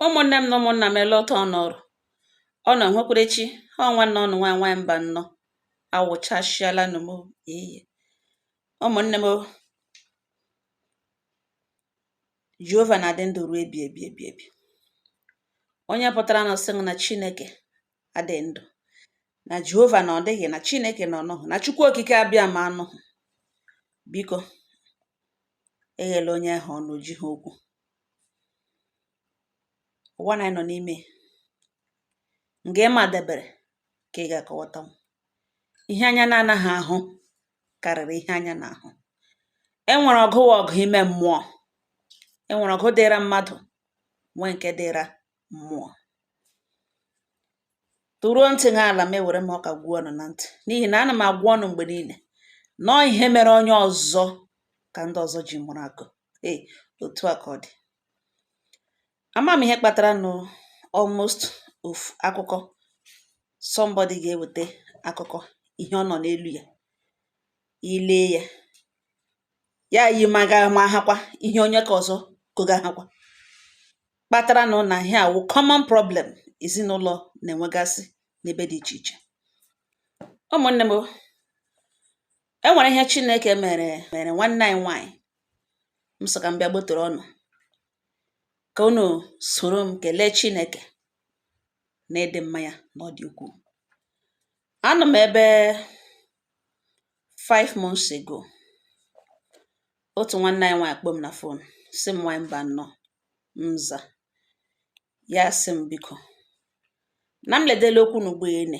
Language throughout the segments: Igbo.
Ụmụnne m na ụmụnna m ele otu ọ nọrọ ọnụ nwekwere chi ọ nwanne ọnụ nwa nwa Mbanọ awụchasịala nụ m iyi ụmụnne m Jehova na-adị ndụ ruo ebi ebi onye pụtara na-asị na Chineke adị ndụ na Jehova na ọ dịghị na Chineke na ọ nọhụ na Chukwu Okike Abịama anọhụ biko eghela onye ahụ ọnụ o jiha okwu ụwa na anyị nọ n'ime nga ịma debere ka ị ga-akọwata m ihe anya na-anaghị ahụ karịrị ihe anya na-ahụ e nwere ọgụ wụ ọgụ ime mmụọ e nwere ọgụ dịra mmadụ nwee nke dịra mmụọ tụruo ntị n'ala m ewere m ọka gwa ọnụ na ntị n'ihi na ana m agwa ọnụ mgbe niile na ọ ihe mere onye ọzọ ka ndị ọzọ ji mụrụ akọ ee otu a ka ọ dị ama m ihe kpatara nụ almost ofu akụkọ somebody ga-eweta akụkọ ihe ọ nọ n'elu ya i lee ya ya yi maga ma hakwa ihe onye ka ọzọ kọga hakwa kpatara nụ na ihe a wụ common problem ezinụlọ na-enwegasị n'ebe dị iche iche ụmụnne m e nwere ihe Chineke meere nwanne anyị nwanyị m sị ka m bịa gbotoro ọnụ ka unu soro m kelee Chineke na ịdị mma ya na ọ dị ukwuu anọ m ebe five months ago otu nwanne anyị nwanyị kpọọ m na fon sị m nwanyị Mbanọ m zaa ya sị m biko na m ledela okwu n'ugbo ene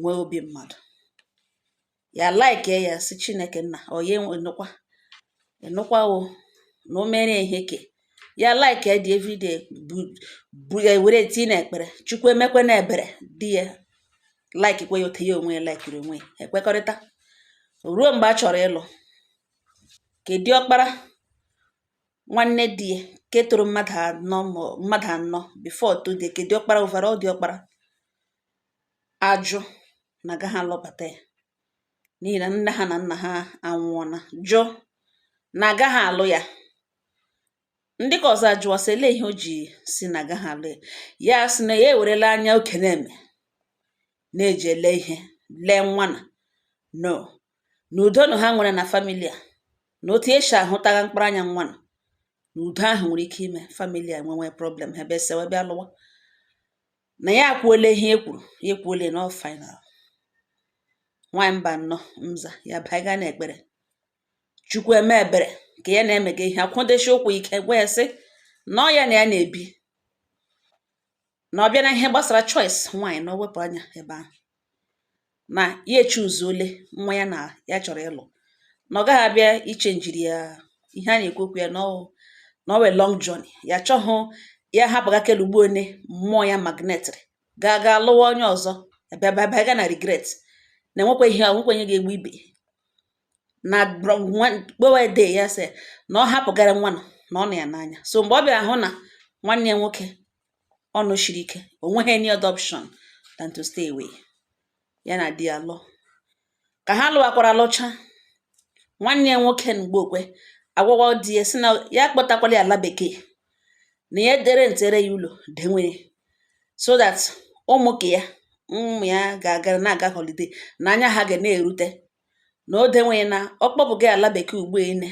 nwee obi mmadụ ya like ya sị Chineke nna onye enụkwa enụkwa o na o mere ihe ke ya like ya dị everyday bụ ya were tii na ekpere Chukwu emekwe na ebere di ya like kwe ya otu ya onwe ya likiri onwe ya ekwekọrịta ruo mgbe a chọrọ ịlụ ke diọkpara nwanne di ya ke tọrọ mmadụ anọ before tọọ di ya ke diọkpara overall diọkpara ajụ na agaghị alụbata ya n'ihi na nne ha na nna ha anwụọla jụ na agaghị alụ ya ndị ka ọzọ ajụwa sị ele ihe o ji sị na agaghị alụ ya ya sị na ya ewerela anya okenye na-eji ele ihe lee nwa na no na udo na ha nwere na famili a na otu ya si ahụtagha mkpụrụ anya nwa na na udo ahụ nwere ike ime famili a enwewe problem ha abịa sewe bịa lụwa na ya akwuola ihe ya kwuru ya ekwuola na ọ final nwaanyị Mbanọ mza ya baiga na ekpere chukwu eme ebere ka ya na-emega ihe akwụdeshi ụkwụ ike gwa ya sị na ọ ya na ya na-ebi na ọ bịa na ihe gbasara choice nwaanyị na o wepụ anya ebe ahụ na ya echuzuole nwa ya na ya chọrọ ịlụ na ọ gaghị abịa ichenjiri ya ihe a na-ekwu okwu ya na ọ na ọ wụ a long journey ya chọghụ ya hapụga kelugbu one mmụọ ya magnetịrị gaa gaa lụwa onye ọzọ bịabịa ga na-regret na enwekwa ihe nwekwa onye ga-egbu ibe na kpọwe de ya sị na ọ hapụgara nwa na ọ na ya n'anya so mgbe ọ bịara hụ na nwanne ya nwoke ọnụ shiri ike o nweghị any other option than to stay away ya na di ya lụọ ka ha lụwakwara lụcha nwanne ya nwoke na Mgbeokwe agwawa di ya sị na ya kpọtakwala ya ala bekee na ya de rentere ya ụlọ denwere so that ụmụ ka ya ụmụ ya ga-agara na-aga holiday na anya ha ga na-erute na o denwere na ọ kpọpụga ya ala bekee ugbo ine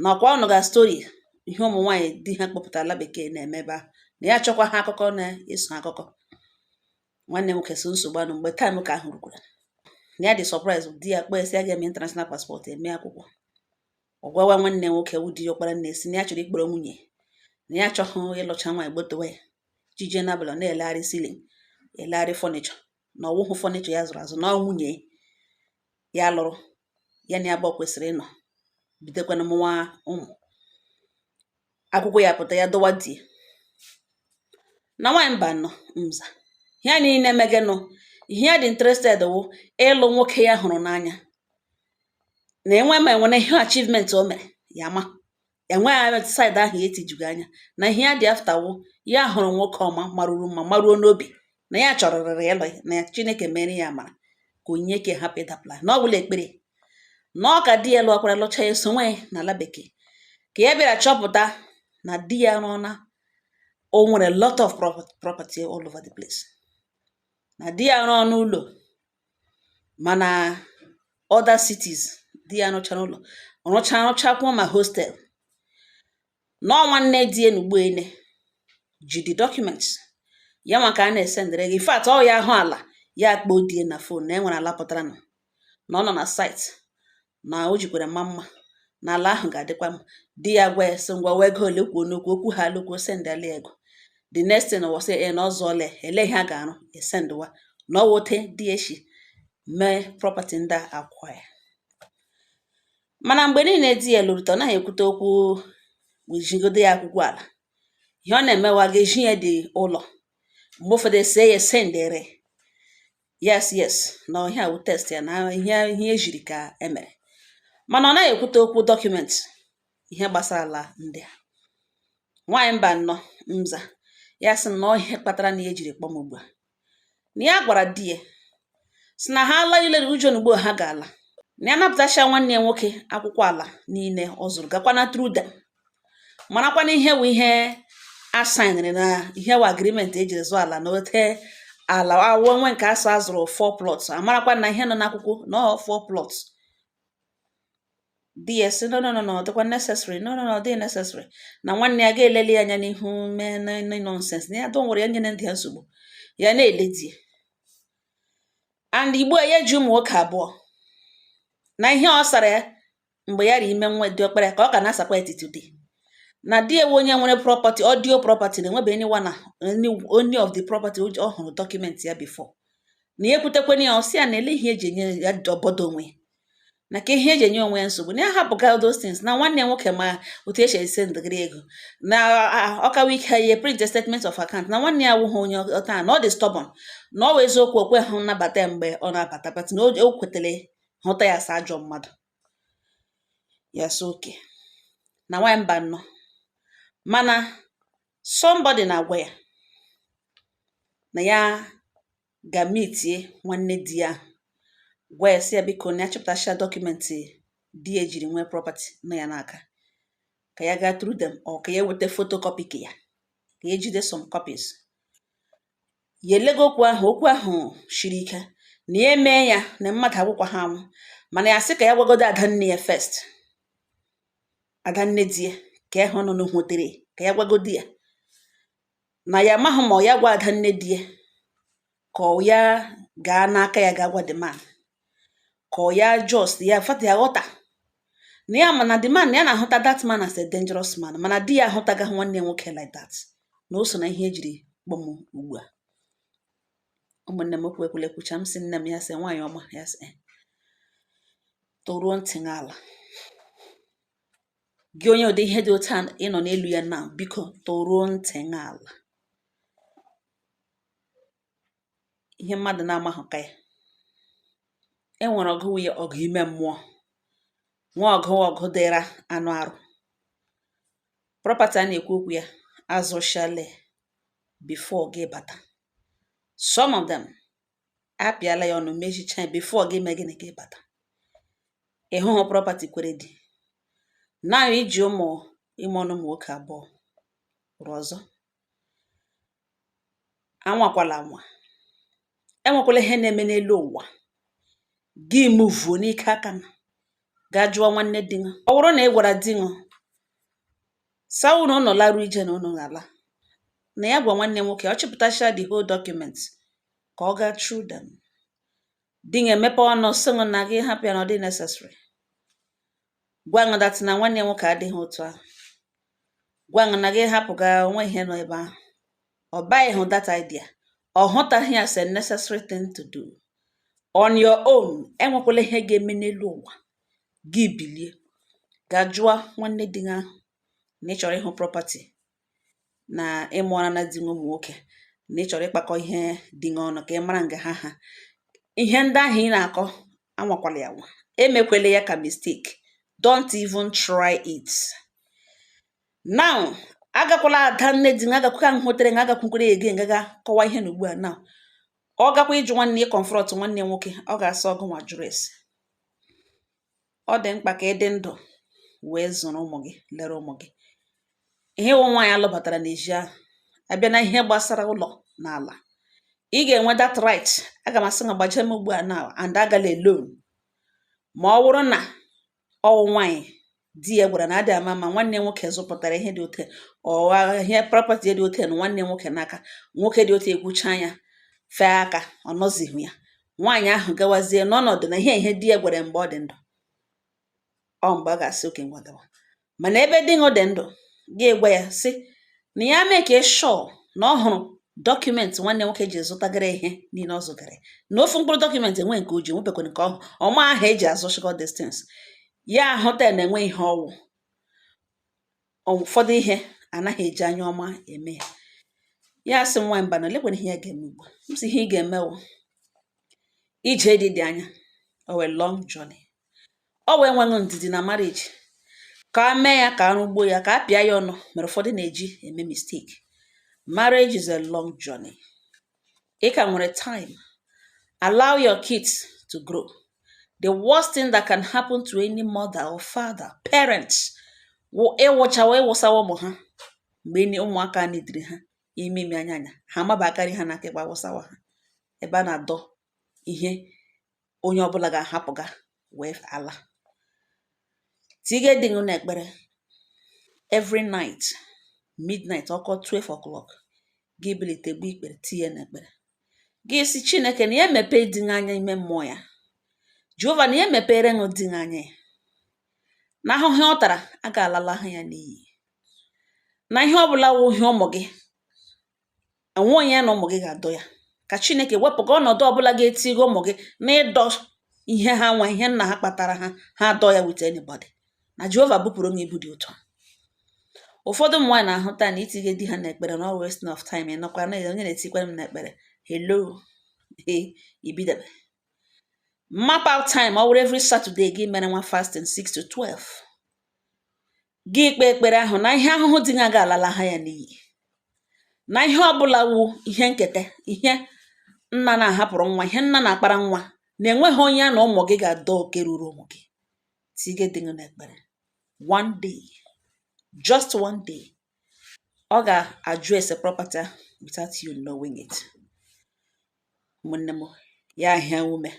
na ọkwa ọ nụga story ihe ụmụ nwaanyị di ha kpọpụtara ala bekee na-eme ebe ahụ na ya achọkwaha akụkọ na-eso akụkọ nwanne m nwoke so nsogbu anụ mgbe time ke ahụ rukwara na ya dị surprise di ya kpọọ ya sị ya ga-eme international passport eme akwụkwọ ọ gwawa nwanne nwoke wụ di ya ọkpara nne sị na ya chọrọ ikpọrọ nwunye na ya achọghị ịlụcha nwaanyị gbotowa ya jije n'abalị na-elegharị ceiling elegharị furniture na ọ wụhụ furniture ya zụrụ azụ na ọ nwunye ya lụrụ ya na ya bụ kwesịrị ịnọ bidokwana mụwa ụmụ akwụkwọ ya pụta ya dọwa di na nwaanyị Mbanọ mza ihe niile megenụ ihe ya dị interested wụ ịlụ nwoke ya hụrụ n'anya na enwe ma e nwere ihe achievement o mere ya ma enweghị anya side ahụ ya etijughị anya na ihe ya dị after wụ ya hụrụ nwoke ọma maruru mma maruo n'obi na ya chọrọrịrị ịlụ ya na ya chineke mere ya amara ka onye ke hapụ ịdapụla na ọ bụla ekpere na ọ ka di ya lụọkwara lụcha ya sonwe na ala bekee ka ya bịara chọpụta na di ya rụọna o nwere lot of property all over the place na di ya rụọ n'ụlọ ma na other cities di ya rụchara ụlọ rụcha rụchakwuo ma hostel na ọ nwanne di ya n'ugbo ene ji the documents ya nwa ka a na-esendịrị ego in fact ọ ya ahụ ala ya akpọọ di ya na phone na e nwere ala pụtaranụ na ọ nọ na site ma o jikwara ma mma na ala ahụ ga-adịkwa mma di ya gwa ya sị ngwa ọ wụ ego ole kwuo n'okwu okwu ha alụkwuo o sendịala ego the next thing ọ sị na ọ zụọla lee ihe a ga-arụ esendịwa na ọ wụ otu di ya shi mee property ndị a akwa ya mana mgbe niile di ya lọruta ọ naghị ekwute okwu wejigodo ya akwụkwọ ala ihe ọ na-emewa ga-eji ya dị ụlọ mgbe ụfọdụ e see ya sendere yes yes na ihe a wụ taste ya na ihe ihe ejiri ka emere mana ọ naghị ekwute okwu document ihe gbasara ala ndị a nwaanyị Mbano mza ya sị na ihe kpatara na ya jiri kpọọ m ugbu a na ya gwara di ya sị na ha ala ilere ujo na ugbo ha ga-ala na ya napụtacha nwanne ya nwoke akwụkwọ ala niile ọ zụrụ gakwa na through them marakwa na ihe wụ ihe a saịnịrị na ihe wụ agreement ejiri zụọ ala na ote ala awụọ nwe nke a sị a zụrụ four plots amarakwa na ihe nọ n'akwụkwọ na ọ four plots di ya sị no no no no ọ dịkwa necessary no no no ọ dịghị necessary na nwanne ya ga-eleli ya anya n'ihu mee na na nonsense na ya dọ nwere ya nyere ndị ya nsogbu ya na-ele di ya and ugbu a ya ji ụmụ nwoke abụọ na ihe ọ sara ya mgbe ya ri ime nwa diọkpara ka ọ ka na-asakwa etiti di na di ya wụ onye nwere property audio property na enwebe anyone any of the property ọ hụrụ document ya before na ya ekwutekwana ya ọ sị ya na ele ihe eji enye ya obodo onwe na ka ihe eji enye onwe ya nsogbu na ya hapụga those things na nwanne ya nwoke ma otu e si esendịgịrị ego na ọkawa ike ya ihe print statement of account na nwanne ya awụghị onye ọta na ọ dị stubborn na ọ wụ eziokwu o kwehụ nnabata mgbe ọ na-abata but na o kwetara hụta ya as ajọ mmadụ ya sị okay na nwaanyị Mbano mana somebody na-agwa ya na ya gaa meetie nwanne di ya gwa ya sị ya biko na ya chọpụtacha document di ya jiri nwee property nọ ya n'aka ka ya gaa through them or ka ya weta photocopy ka ya ka ya jide some copies ya elega okwu ahụ okwu ahụ shiri ike na ya emee ya na mmadụ agwụkwa ha anwụ mana ya sị ka ya gwagodo adanne ya first adanne di ya ka ya hụ nọ n'hụtere ka ya gwagodo ya na ya amaghị ma ọ ya gwa adanne di ya ka ọ ya gaa n'aka ya gaa gwa the man ka ọ ya just ya fat ya ghọta na ya mana the man na ya na-ahụta that man as a dangerous man mana di ya ahụtagaghị nwanne ya nwoke like that na o so na ihe ejiri kpọọ m ugbu a ụmụnne m okwu ekwule kwucha m sị nne m ya sị nwaanyị ọma ya sị eh tọruo ntị gị ala gị onye ụdị ihe dị otu a ị nọ n'elu ya na biko tọruo ntị gị ala ihe mmadụ na-amahụ ka ya e nwere ọgụ nwunye ọgụ ime mmụọ nwa ọgụ ọgụ dịra anụ arụ property a na-ekwu okwu ya azụchale before gị bata some of them apịala ya ọnụ mechicha ya before gị mee gịnị gị bata ịhụhụ property kwere dị na iji ụmụ ime ọnụ ụmụ nwoke abụọ rụọ ọzọ anwakwala anwa enwekwala ihe na-eme n'elu ụwa gị mụvuo n'ike aka ṅụ ga jụọ nwanne di ṅụ ọ wụrụ na ị gwara di ṅụ sawu na ụnọ larụ ije na unu ga-ala na ya gwa nwanne nwoke ọ chịpụtacha the whole document ka ọ gaa through them di ṅụ emepe ọnụ sị ṅụ na gị hapụ ya na ọ dị necessary gwa ṅụ that na nwanne ya nwoke adịghị otu ahụ gwa ṅụ na gị hapụga onwe ihe nọ ebe ahụ ọ buy-hụ that idea ọ hụtaghị ya as a necessary thing to do on your own enwekwala ihe ga-eme n'elu ụwa gị bilie ga jụọ nwanne di gị ahụ na ị chọrọ ịhụ property na ị mụọrana di ṅụ ụmụ nwoke na ị chọrọ ịkpakọ ihe di gị ọnụ ka ị mara nga ha ha ihe ndị ahụ ị na-akọ anwakwala ya anwa emekwele ya ka mistake don't even try it now agakwala ada nne di nga agakwụka ahụ hotere nga agakwukwere ege ngaga kọwa ihe na ugbu a now ọ gakwa ịjụ nwanne ya confront nwanne nwoke ọ ga-asị ọgụ nwa jụrụ ese ọ dị mkpa ka ị dị ndụ wee zụrụ ụmụ gị lere ụmụ gị ihe wụ nwaanyị a lụbatara n'ezi ahụ a bịa n'ihe gbasara ụlọ na ala ị ga-enwe that right aga m asị na gbaje m ugbu a now and agala alone ma ọ wụrụ na ọ wụ nwaanyị di ya gwara na adị ama ma nwanne nwoke zụpụtara ihe dị ote ọwa ihe property dị ote na nwanne nwoke n'aka nwoke dị ote ekwucha ya fee aka ọ nọzighị ya nwaanyị ahụ gawazie n'ọnọdụ n'ihe di ya gwara ya mgbe ọ dị ndụ ọ mgbe a ga-asị okay ngwa gawa mana ebe di ṅụ dị ndụ ga-egwa ya sị na ya make sure na ọ hụrụ document nwanne nwoke ji zụtagara ihe niile ọ zụtara na ofu mkpụrụ document enwe nke o ji enwebekwara nke ọhụ ọma ahụ eji azụ shikọ distance ya ahụta na e nwe ihe ọ wụ ụfọdụ ihe a naghị eji anya ọma eme ya ya sị m nwaanyị Mbano lekwana ihe ya ga-eme ugbu a m sị ihe ị ga-eme wụ ije di dị anya ọ wụ a long journey ọ wụ enwehụ ndidi na marriage ka a mee ya ka a rụgbuo ya ka a pịa ya ọnụ mere ụfọdụ na-eji eme mistake marriage is a long journey ị ka nwere time allow your kids to grow the worst thing that can happen to any mother or father parents wụ ịwụchawa ịwụsawa ụmụ ha mgbe ni ụmụaka needịrị ha ime ime anya anya ha amaba aka nri ha na aka ekpe awụsawa ha ebe a na-adọ ihe onye ọbụla ga-ahapụga wee ala tige di gị na ekpere every night midnight ọ kụọ 12 o'clock gị bilite gbu ikpere tinye n'ekpere gị sị chineke na ya emepee di gị anya ime mmụọ ya jehova na ya emepere ṅụ di gị anya ya na ahụhụ ọ tara a ga-alala ha ya n'iyi na ihe ọ bụla wụ ihe ụmụ gị enwe onye ya na ụmụ gị ga-adọ ya ka chineke wepụga ọnọdụ ọbụla ga-etiga ụmụ gị na ịdọ ihe ha nwe ihe nna ha kpatara ha ha adọ ya with anybody na jehova bupụrụ m ibu dị otu a ụfọdụ ụmụ nwaanyị na-ahụta na itinye di ha n'ekpere na ọ wụ wasting of time ị nọkwa na onye na-etikwara m n'ekpere hello he ibidebe map out time ọ wụrụ every Saturday gị mere nwa fasting 6 to 12 gị kpee ekpere ahụ na ihe ahụhụ di gị a ga-alala ha ya n'iyi na ihe ọbụla wụ ihe nketa ihe nna na-ahapụrụ nwa ihe nna na-akpara nwa na enweghị onye ya na ụmụ gị ga-adọ oke ruru ụmụ gị tige di gị n'ekpere one day just one day ọ ga-address property without you knowing it ụmụnne m ya ahịa ume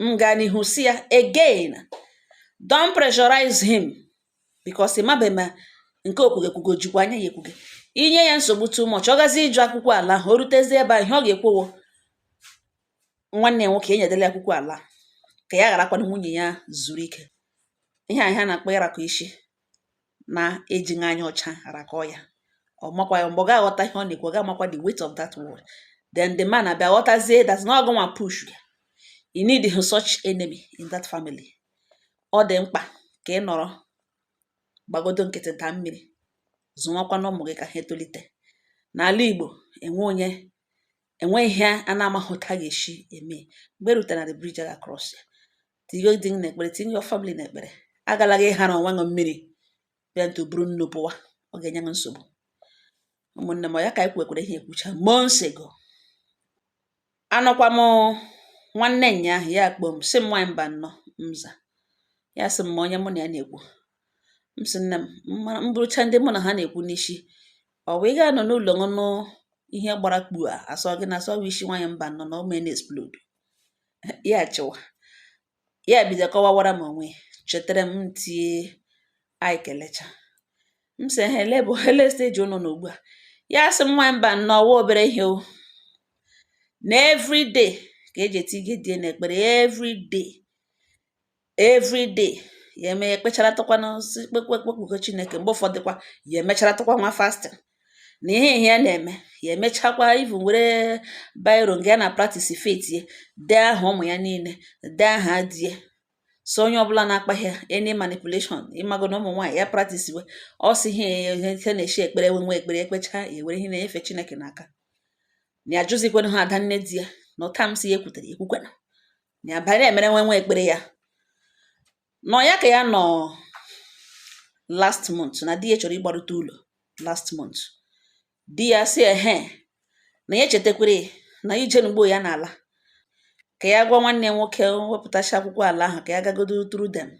m gaa n'ihu sị ya again don't pressurize him because ị mabe ma nke o kwuge kwuge o jikwa anya ya ekwuge i nye ya nsogbu too much ọ gazie ịjụ akwụkwọ ala ahụ o rutezie ebe a ihe ọ ga-ekwu wụ nwanne ya nwoke enyedela ya akwụkwọ ala ka ya gharakwanụ nwunye ya zuru ike ihe a ihe a na-akpọ ịrakọ isi na-ejighị anya ọcha arakọ ya ọ makwa ya mgbe ọ ga-aghọta ihe ọ na-ekwu ọ ga-amakwa the weight of that word then the man abịa ghọtazie that na ọ gị nwa push ya ị needhụ such enemy in that family ọ dị mkpa ka ị nọrọ gbagodo nkịtị daa mmiri zụwakwanụ ụmụ gị ka ha etolite n'ala Igbo enwe onye enwe ihe a na-amaghị otu a ga-esi eme mgbe e rutere na the bridge a ga-across ya tinye di gị n'ekpere tinye your family n'ekpere agala gị ịhara onwe gị mmiri bịa ntụ buru nnu pụwa ọ ga-enye gị nsogbu ụmụnne m ya ka anyị kwekwere ihe ekwucha months ago anọkwa m nwanne nya ahụ ya kpọọ m sị m nwaanyị Mbano m za ya sị m ma onye mụ na ya na-ekwu m sị nne m m burucha ndị mụ na ha na-ekwu n'isi ọ bụ ị ga-anọ n'ụlọ ṅụ nụ ihe gbara kpua a sị ọ gịnị a sị ọ bụ isi nwaanyị Mbano na o mee na explode ya achịwa ya bido kọwawara m onwe chetara m tie anyị kelecha m sị ha ele bụ ele stage ụnụ nọ ugbu a ya sị m nwanyị Mbano ọwa obere ihe o na everyday ka eji etinye di ya na ekpere everyday everyday ya eme ekpecharatụkwa n'ozi kpekpekpe kpekuo chineke mgbe ụfọdụkwa ya emecharatụkwa nwa fasting na ihe ihe ya na-eme ya emechakwa even were biro nga ya na practice faith ya dee aha ụmụ ya niile dee aha di ya so onye ọbụla na-akpaghị ya any manipulation ịmago na ụmụ nwaanyị ya practice we ọ si ihe ihe na-echi ekpere we nwe ekpere ekpecha ya were ihe na-enyefe chineke n'aka na ya jụzikwana ha ada nne di ya na ụta m sị ya ekwutere ekwukwena ya banye na-emere nwe nwa ekpere ya nọ ya ka ya nọ last month na di ya chọrọ ịgbarute ụlọ last month di ya sị ehe na ya echetakwere na ije n'ugbo ya na-ala ka ya gwa nwanne ya nwoke wepụtacha akwụkwọ ala ahụ ka ya gagodo through them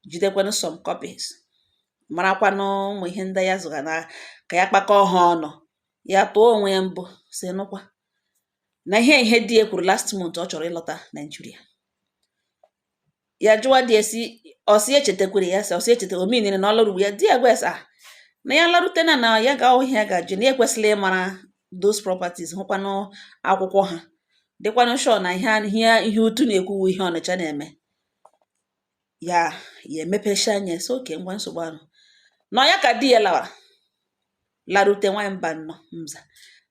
jidekwanụ some copies marakwanụ ụmụ ihe ndị ya zụga na ka ya kpakọọ ha ọnụ ya tụọ onwe ya mbọ sị nụkwa na ihe ihe di ya kwuru last month ọ chọrọ ịlọta Nigeria ya jụwa di ya sị ọ sị ya echetakwere ya sị ọ sị ya echeta omenire na ọ lụrụ ya di ya gwa ya sị ah na ya larute na na ya ga ihe ya ga-ajụ na ya ekwesịla ịmara those properties hụkwanụ akwụkwọ ha dịkwanụ sure na ihe a- ihe ihe Otu na-ekwu wụ ihe Ọnịcha na-eme ya ya emepecha anya sị okay ngwa nsogbu anọghị ya ka di ya lawara larute nwanyị Mbano mza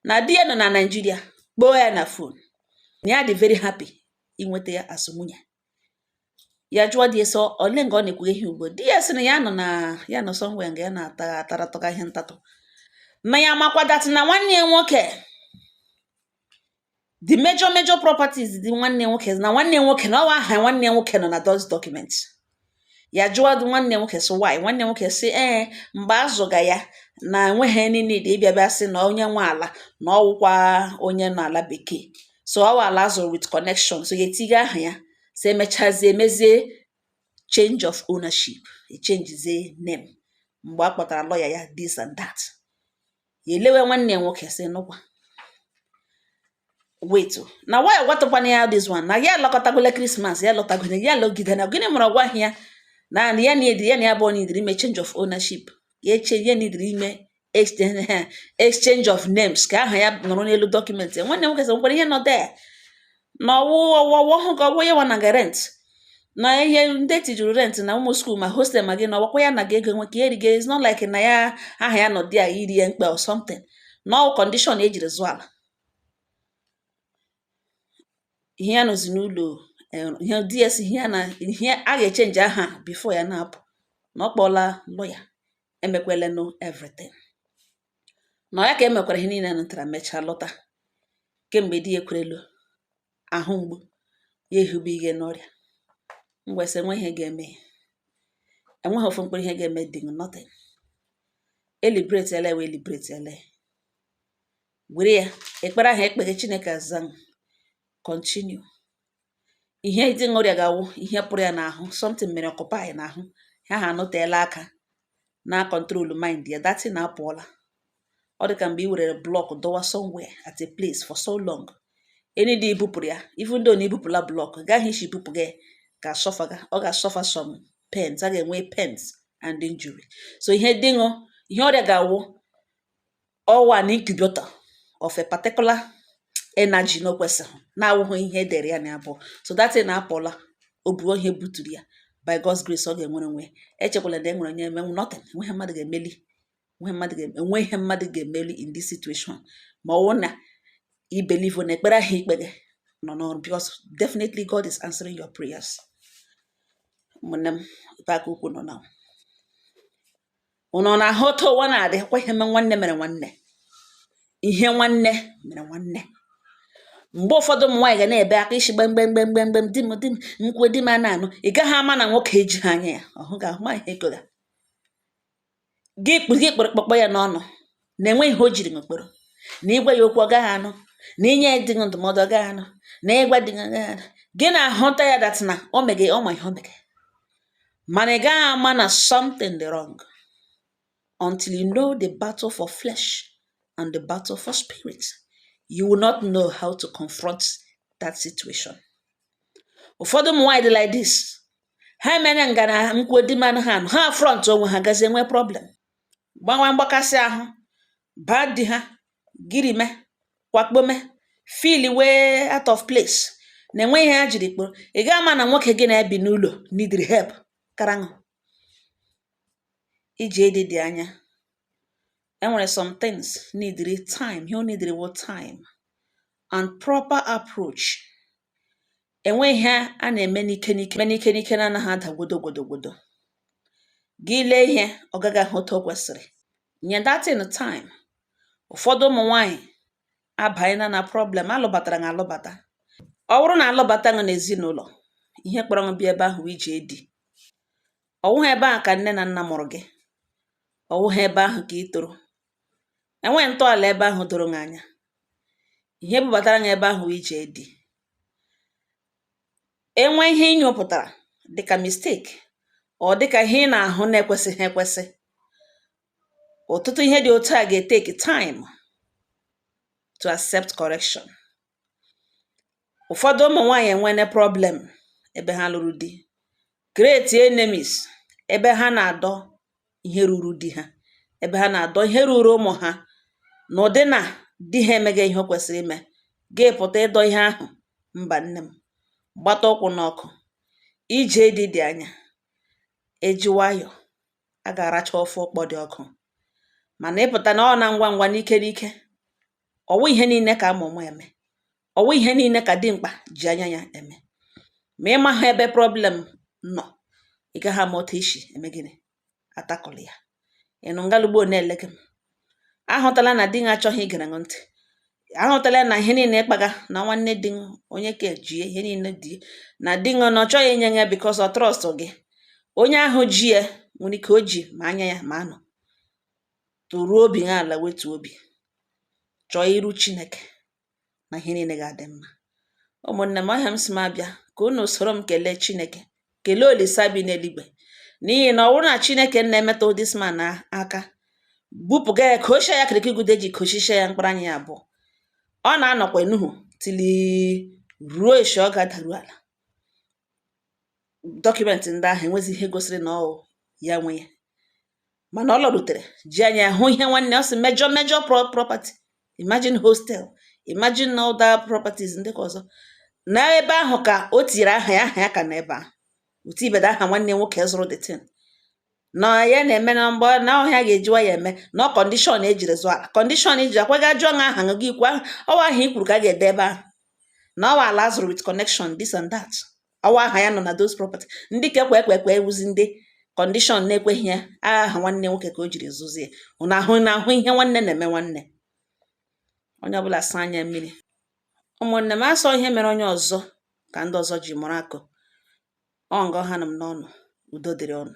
na di ya nọ na Nigeria kpọọ ya na phone na ya dị very happy inweta ya as nwunye ya jụọ di ya sị ole nga ọ na-ekwughe ihe ugbo di ya sị na ya nọ na ya nọ somewhere nga ya na-ataratụga ihe ntatụ na ya makwadatị na nwanne ya nwoke the major major properties dị nwanne nwoke na nwanne nwoke na ọ wụ aha nwanne nwoke nọ na those documents ya jụọ nwanne nwoke sị why nwanne nwoke sị ee eh, mgbe azụga ya na enweghị niile dị ịbịa bịa sị na onye nwe ala na ọwụkwa onye nọ ala bekee so ọ wụ ala azụrụ with connection so ya etinye aha ya so emechazie emezie change of ownership echenjizie name mgbe a kpọtara lawyer ya this and that ya elewe nwanne ya nwoke sị nụkwa wait na why agwatụkwana ya this one na ya alọkọtagola Christmas ya lọtagole ya lọgide na gịnị mere ọ gwaghị ya na ya needịrị ya na ya abụọ needịrị ime change of ownership ya eche ya needịrị ime exchange of names ka aha ya nọrọ n'elu document nwanne nwoke sị nwekwara ihe nọ there na ọ wụghị ọ wụ ya nwa naga rent na ihe ndị tijuru rent na ụmụ school ma hostel ma gịnị ọ wụkwa ya naga ego nwe ka e riga is not like na ya aha ya nọ there dịrị ya mkpa or something na ọ wụ condition e jiri zụọ ala ihe ya nọzi n'ụlọ eh, ihe ds ihe a ga-echenji aha before ya na-apụ na ọ kpọọla lawyer emekwelenụ everything na ya ka e mekwara ihe niile nụtara mechaa lọta kemgbe di ya ekwerelu ahụ mgbu ya ehube ihe n'ọrịa m wee sị enweghị ihe ga-eme ya enweghị ofu mkpụrụ ihe ga-eme di nothing eliberate ele wee eliberate ele were ya ekpere ahụ e kpege chineke aza continue ihe di gị rịaga wụ ihe pụrụ ya n'ahụ something mere occupy n'ahụ ya ha anọteela aka na-acontrol mind ya that thing apụọla ọ dị ka mgbe i werere block dọwa somewhere at a place for so long any day i bupụrụ ya even though na i bupụla block nga ahụ i si bupụ ya ga-asuffer ọ ga-asuffer some pains a ga-enwe pains and injury so ihe di gị ihe ọ rịaga wụ ọ wụ an incubator of a particular energy na o kwesịghị na-awụghị ihe e dere ya na ya bụ so that thing apụla o buo ihe buturu ya by God's grace ọ ga-enwere onwe ya echekwala na e nwere onye emenwu nothing enweghị mmadụ ga-emeli enweghị mmadụ ga- enweghị ihe mmadụ ga-emeli in this situation ma ọ wụ na i believe na ekpere ahụ i kpege nọ n'ọrụ because definitely God is answering your prayers ụmụnne m ebe aka ukwu nọ na ụnụ na-ahụ otu ụwa na-adị kwa ihe mme nwanne mere nwanne ihe nwanne mere nwanne mgbe ụfọdụ ụmụ nwaanyị ga na-ebe aka isi gbem gbem gbem gbem gbem di m di m nkwe di m a na-anụ ị gaghị ama na nwoke ejighị anya ya ọhụ ga ahụ ma ihe gora gị kpụ gị kpụrụ kpọkpọ ya n'ọnụ na enweghị ihe o jiri m kpọrọ na i gwa ya okwu ọ gaghị anụ na i nye ya dị ndụmọdụ ọ gaghị anụ na i gwa dị gị ana-ahụta ya that na o mege ọ ma ihe o mege mana ị gaghị ama na something dị wrong until you know the battle for flesh and the battle for spirit you will not know how to confront that situation ụfọdụ ụmụ nwaanyị dị like this ha mere ngana nkwuo di manụ ha ha front onwe ha gazie nwee problem gbawa mgbakasị ahụ baa di ha girime kwakpome feel way out of place na enweghị ihe ha jiri kpọrọ ị gaghị ama na nwoke gị na ya bi n'ụlọ needịrị help karaṅụ iji ịdị dị anya e nwere some things needịrị time ihe ọ needịrị wụ time and proper approach E nweghị ihe a na-eme n'ike n'ike na-anaghị ada gwodogwodogwodo. Gị lee ihe, ọ gaghị aga otu o kwesịrị. Nye that thing time, ụfọdụ ụmụ nwaanyị abanyela na problem alụbatara gị alụbata. Ọ wụrụ na alụbata gị n'ezinụlọ, ihe kpọrọ gị bịa ebe ahụ wụ ije di. Ọ wụghị ebe ahụ ka nne na nna mụrụ gị. Ọ wụghị ebe ahụ ka ị toro. E nweghị ntọala ebe ahụ doro gị anya. Ihe bubatara gị ebe ahụ wụ ije di. E nwee ihe ị nyopụtara dị ka mistake or dị ka ihe ị na-ahụ na-ekwesịghị ekwesị, ọtụtụ ihe dị otu a ga-etake time to accept correction. ụfọdụ ụmụ nwaanyị enwene problem ebe ha lụrụ di create enemies ebe ha na-adọ ihe ruru di ha ebe ha na-adọ ihe ruru ụmụ ha n'ụdị na di ha emeghị ihe o kwesịrị ime gị pụta ịdọ ihe ahụ mba nne m gbata ụkwụ n'ọkụ ije di dị anya eji nwayọ a ga-aracha ofe ụkpọ dị ọkụ mana ịpụta na ọ na ngwa ngwa n'ike n'ike Ọ wụghị ihe niile ka a ma ụma eme. Ọ wụghị ihe niile ka dimkpa ji anya ya eme. Ma ị maghị ebe problem nọ, ị gaghị ama otu ị si eme gịnị atackle ya. Ị nụ ngalụgbo na-ele gị m. Ahụtala na di gị achọghị igere gị ntị. Ahụtala na ihe niile ịkpaga na nwanne di gị onye ka ejie ihe niile di na di gị na ọ chọghị inye ya because ọ trust gị. Onye ahụ ji ya nwere ike o ji ma anya ya ma anụ. toruo obi gị ala wetu obi chọọ iru chineke na ihe niile ga-adị mma ụmụnne m ọ ihe m sị m abịa ka unu soro m kelee chineke kelee olisa bi n'eluigwe n'ihi na ọ bụrụ na chineke nna emetụ this man aka bupụga ya ka ochie ya kirikigude ji kochichie ya mkpụrụ anya ya abụọ ọ na-anọkwa enuhu till ruo echi ọ ga-adaru ala document ndị ahụ enwezi ihe gosiri na ọ ya nwe ya mana ọ lọrutere ji anya hụ ihe nwanne ọ sị major major property imagine hostel imagine other properties ndị ka ọzọ na ebe ahụ ka o tinyere aha ya aha ya ka na ebe ahụ otu ibeda aha nwanne nwoke zụrụ the thing na ya na-eme na mgbe na ọ ihe a ga-ejiwa ya eme na ọ condition ejiri zụọ ala condition iji akwa ga jụọ nha aha gị ikwu ọ wụ aha i kwuru ka a ga-ede ebe ahụ na ọ wụ ala a zụrụ with connection this and that ọ wụ aha ya nọ na those property ndị ka ekwe ekwe ekwe wụzi ndị condition na-ekweghị ya aha nwanne nwoke ka o jiri zụzie unu na-ahụ ihe nwanne na-eme nwanne onye ọbụla saa anya mmiri ụmụnne m a sị ọ ihe mere onye ọzọ ka ndị ọzọ ji mụrụ akọ ọ nga ọ hanụ m n'ọnụ udo dịrị unu